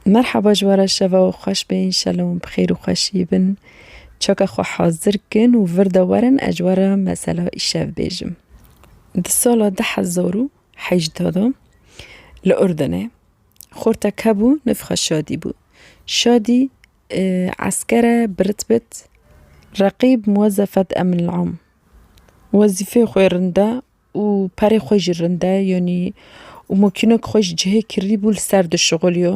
Merhaba ji we re şeva we xweş be înşela wan bi xêr û xweşî bin. Çaka xwe hazir kin û vir de werin ez ji we re mesela îşev bêjim. Di sala du hezar û hejdeh de li Urdunê xortek hebû navê xwe Şadî bû. Şadî esker e bi ritbet Reqîb Muwezefet Emin Am. Wezîfeya xwe ya rinda. û perê xwe jî rinde yonî û mokînok xwe ji cihê kirî bû li ser dişixuliyo.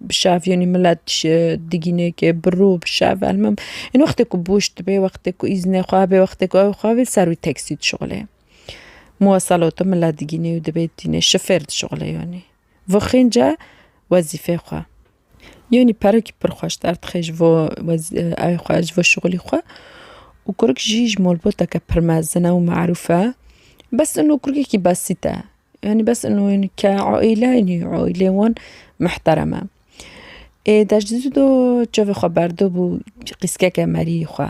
Bi şev yonî milet ji digînêkê bi rû bi şev elmim ên wextê ku boş dibe wextê ku îznê xwe hebe wextê ku ew xwe hebe li ser wî teksî dişixule. Muweselato milet digînê û dibê tîne şifêr dişixule yonî vixwînce wezîfê xwe. Yanî perekî pir xweş derdixê ji bo evê xwe ji bo şixulî xwe û kurik jî ji malbateke pir mezin e û merûf e. Bes ino kurikekî besît e. Yanî bes ino yanî ke aîle yanî aîlê wan mihterem e. Ê deji dû çavê xwe berdibû qîskeke meriyê xwe.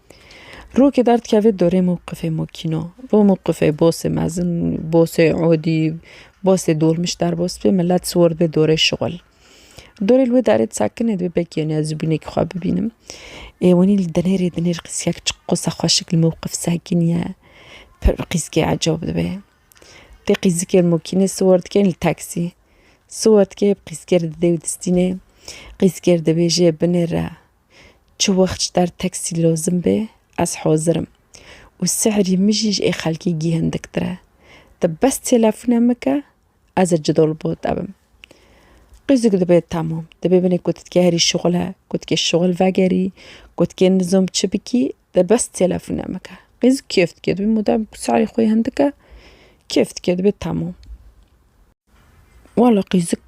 Rokê dar dikeve dorê mewqifê mokîno. Bo mewqifê bosê mezin, bosê odî, bosê dolmîş derbas bibe milet siwar dibe dorê şixul. Dorê li wê darê di sekinê dibe belkî em ez zibûnekî xwe bibînim. Ê wenî li dinêrê dinêr qîsgek çi qisa xweşik li mewqif sekinîye pir qîsgê ecab dibe. Tê qîzikê li mokînê siwar dike yên li teksî. Siwar dike qîsgê li dide û distînê qîsgê li dibêje binêre. Çi wext ji der teksî lozim bê ez hozir im û sihrî min jî ji ê xelkî gîhindiktir e. Ti bes têlefûne min ke ez ê cidol bo te bim. Qîzik dibe temam. Dibê binê ku tu dikê herî şixule, ku dikê şixul vegerî, ku dikê nizom çi bikî ti bes têlefûne min ke. Qîzik kêf dike dibê mûdem ku sihrî xwe hindik e kêf dike dibê temam. Wala qîzik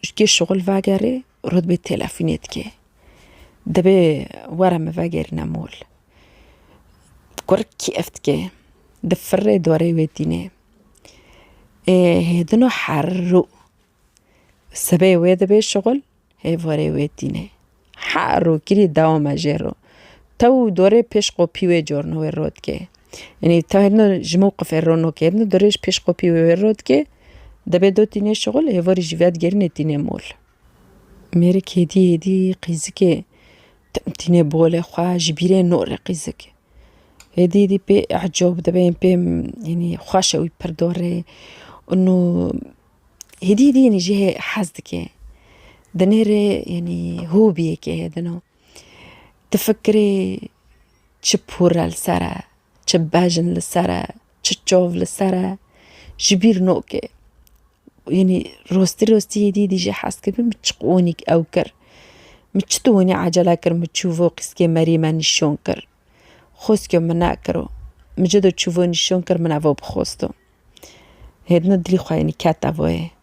ji kê şixul vegerê. Rûdbê têlefûnê dike. Dibê were min vegerîne mol. Kur kêf dike. Di firê dorê wê tîne. Ê hêdino herû. Sibê wê dibê şixul hê vorê wê tîne. Herû kirî dewame jê ro. Tew dorê pêş qopî wê corno wê ro dike. Enê tahirno ji mewqifê ronokêrno dirêj pêşxopî wê wêro dike, dibê do tîne şixul hêvorî jî vedigerîne tîne mol. Mêrik hêdî hêdî qîzikê tim tîne bolê xwe ji bîrê nore qîzik. Hêdî hêdî pê ecob dibe yên pê enê xweş e wî pir dore û hêdî hêdî enê jê hez dike. Di nêrê enê hobiyekê hêdino. Tu fikirî çi pûre li ser e, çi bejn li ser e, çi çav li ser e, ji bîr nake. Yanî rastî rastî yê dî dîjê hez kibî min çi qanî ew kir. Min çi tu winî ecele kir min çû vo qîskê merî me nîşan kir. Xweskê min nekiro. Min cida çû vo nîşan kir min evo bi xwesto. Hêdina dilî xwe yanî kete vo yê.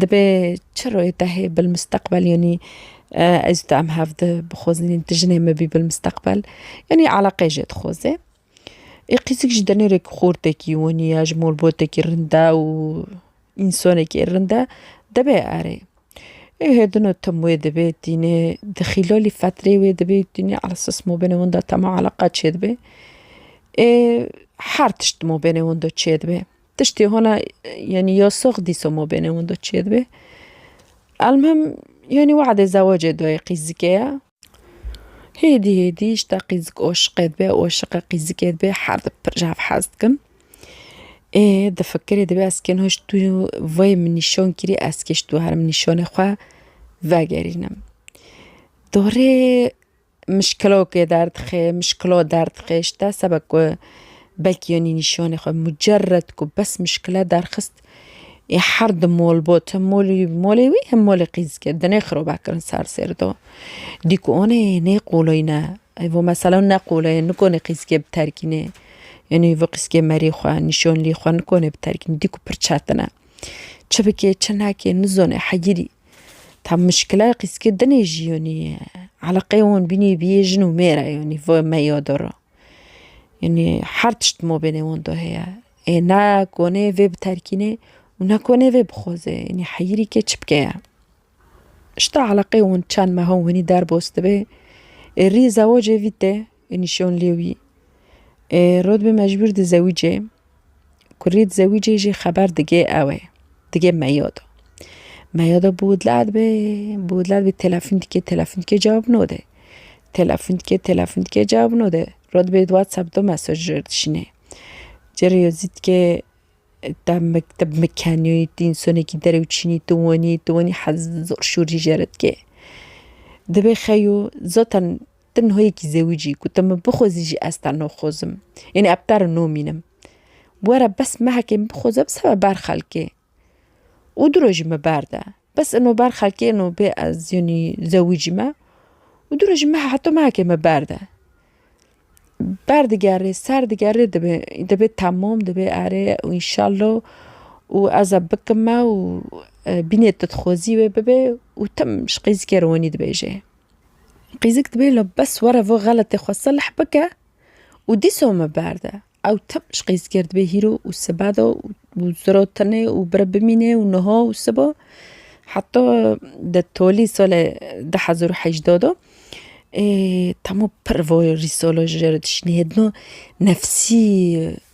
Dibe çi royê te hê bil misteqbel yanî ez û tu em hev di bixwazînin tu jinê min bî bil misteqbel yanî eleqeyê jê dixwaze. Ê qîsik jî denerek xortekî wanî ya ji malbatekî rind e û însanekî rind e dibe erê. Ê hêdino tim wê dibê tîne di xîlalî fetrê wê dibê tîne ala sas mabêne wan de tema eleqa çêdibe. Ê her tişt mabêne wan de çêdibe. Tiştê hona yenî yasox dîsa ma bêne windo çê dibê. Elmhim yenî weadê zewacê dayê qîzikê ye. Hêdî hêdî işte qîzik aşiqê dibe, aşiqê qîzikê dibe her di pir ji hev hez dikin. Ê di fikirê dibe ez kê niha ji tu vayê min nîşan kirî ez kê ji tu herim nîşanê xwe vegerînim. Dorê mişkilokê derdixê, mişkilo derdixê ji te seba ku belkî yanî nîşanê xwe mucerred ku bes mişkile derxist ê her di mol bot him molî molê wî him molê qîzikê di nêxiro vekirin ser sêr do. Dî ku anê nê qoloyne ev û mesela ne qoloyê nikonê qîzikê bi terkînê yanî vê qîzikê merî xwe nîşanlî xwe nikonê bi terkîn dî ku pir çetin e. Çi bikê çi neke nizanê heyirî Tam muşkila qîskê dinê jî yanî eleqeyê wan bînî bîyê jin û mêr e yanî va me ya de ra. Yanî her tişt di mabênê wan de heye. Ê ne konê vê biterkînê û ne konê vê bixwaze. Yanî heyîrî ke çi bike ye. Ji te eleqeyê wan çend meha wanî derbas dibe, ê rî zewacê vî te Nîşan lê wî ê Rodbê mecbûr di zewîcê ku rê di zewîcê jî xeber digê ew ê digê meya de. Meya de bû dila dibe bû dila dibe telefon dikê telefon dikê cewab node. Telefon dikê telefon dikê cewab node. Rodbê di whatsapp de mesaj dişînê. Cere ye zîtkê te mekteb mikenî tu însanekî derewçînî tu winî tu winî hez zor şûrî jere dikê. Dibê xeyo zaten Te niha yekî zewicî ku te min bixwezî jî ez te noxwezim. Yanî ev te re nomînim. Were bes mehekê min bixweze bi sebe ber xelkê. Û diro jî me berde. Bes ino ber xelkê ino bê ez yanî zewicî me. Û diro jî mehe heta mehekê me berde. Berdigerê serdigerê dibê dibê temam dibê erê û înşallo û ez e bikime û bînê tu dixwezî wê bibê û tim ji qîzikê re wenî dibêjê. Qîzik dibê la bes were vê xeletê xwe selh bike û dîsa me berde. Ew tim ji qîzikê re dibê hîro û seba de û zira tenê û bire bimîne û niha û siba heta di tolî salê du hezar û hejdeh de Temo pir vaya rîsala ji re dişîne. Hêdina nefsî.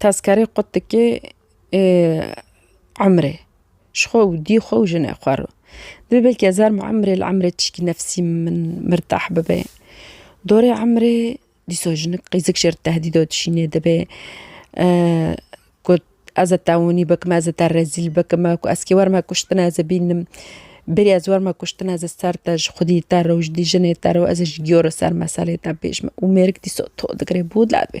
Tezkerê qut dike ê emrê ji xwe û dî xwe û jinê xwe re. Divê belkî ez erm emrê li emrê tişkî nefsî min mirtah bibe. Dorê emrê dîsa jinik qîzik ji ber tehdîda dişîne dibe got ez ê te hûnî bikim, ez ê te rezîl bikim, ez kê werime kuştina ez ê bînim. Berî ez werime kuştina ez ê ser te ji xwedî te re û ji jinê te re û ez ê ji giyo re ser meselê te bêjim û mêrik dîsa to digire bû derdê.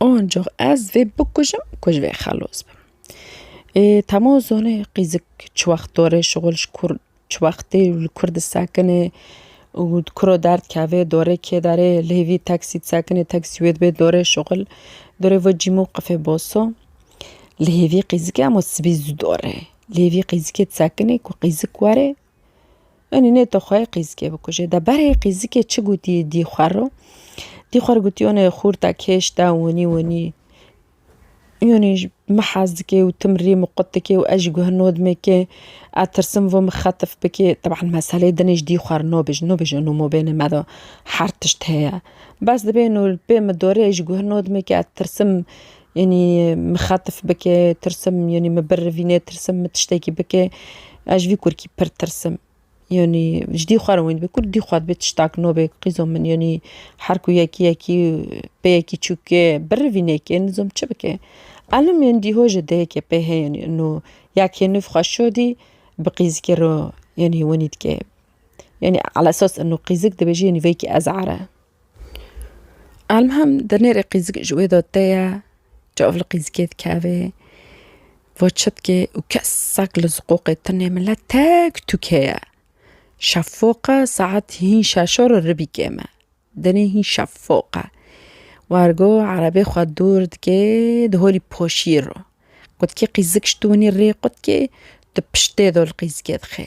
Ancak ez vê bikujim ku ji vê xelos bim. Ê Temo zonê qîzik çi wext dorê şixul ji kur çi wextê li kur disekinê û di kuro derdikevê dorê kê derê li hêvî teksî disekinê teksî wê dibê dorê şixul dorê vê cîmo qifê boso. Li hêvî qîzikê hema sibî zû dorê. Li hêvî qîzikê disekinê ku qîzik were Enî nê to xwe qîzikê bikujê. De berê qîzikê çi gotî dî xwe ro? Dî xwe ro gotî onê xûrta kêş de winî winî yonî ji min hez dikê û tim rî min qut dikê û ez jî guh nodimê kê ez tirsim vû min xetif bikê. Teban meselê din e ji dî xwe re nobij nobij û nûmo bêne me de her tişt heye. Bes dibêno li pê min dorê ez jî guh nodimê kê ez tirsim Yanî min xetif bike tirsim yanî min birivîne tirsim min tiştekî bike ez ji vî kurkî pir tirsim. Yanî ji dî xwe re wî dibe kurd dî xwe dibe tiştak nobe qîzo min yanî her ku yekî yekî pê yekî çûke birivîne ke nizo min çi bike. Elim yên dî hoj e dayeke pê heye yanî ino yekê nûv xwe şodî bi qîzikê re yanî wenî dike. Yanî ala esas ino qîzik dibêje yanî veyekî ezar e. Elmhem di nêrê qîzik ji wê de te ye, çav li qîzikê dikeve, va çi dike û kesek li ziqoqê tune mile tek tûke ye. Şefoq e saet hîn şeşo re ribî kême. Denê hîn şefoq e. Wargo erebê xwe dûr dike di holî poşî re. Qutkê qîzik ji dûnê rê qutkê di piştê de li qîzikê dixe.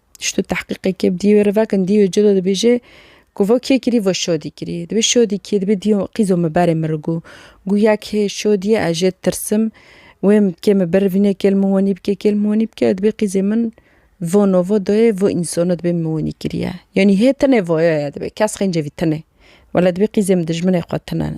Ştu tahqîqê kê bi dî wê re vekin dî wê cilo dibêje ku vo kê kirî vo şodî kirî. Dibê şodî kî dibê dî qîzo min berê min re gû. Gû ya kê şodî ye ez jê tirsim wê kê min bir vînê kêl min wenî bike kêl min wenî bike dibê qîzê min vono vo doyê vo însono dibê min wenî kirî ye. Yanî hê tinê voyo ye dibê kes xêncê vî tinê. Wela dibê qîzê min dijminê xwe tine in.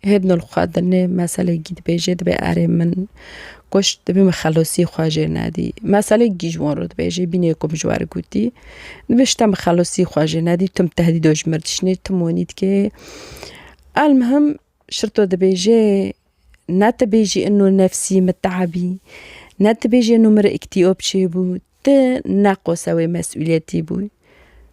Hêb nol xwe di nê meselekî dibêjê dibê erê min kuşt dibê min xelosî xwe jê nedî. Meselek gîj wan ro dibêjê bînê ku min ji we re gotî dibê ji te min xelosî xwe jê nedî tu min tehdîd û ji min re dişînî tu min wînî dikê. Elmuhim şirto dibêjê ne tu bêjî ino nefsî miteebî ne tu bêjî ino min re îktîob çêbû tu neqose wê mesûliyetî bû.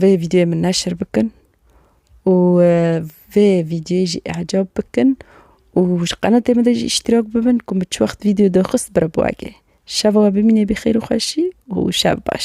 Vê vîdyoyê min neşir bikin û vê vîdyoyê jî ecab bikin û ji qenatê min de jî îştîrak bibin ku min çi wext vîdyo daxist bira bo ege. Şeva we bimîne bi xêr û xweşî û şev baş.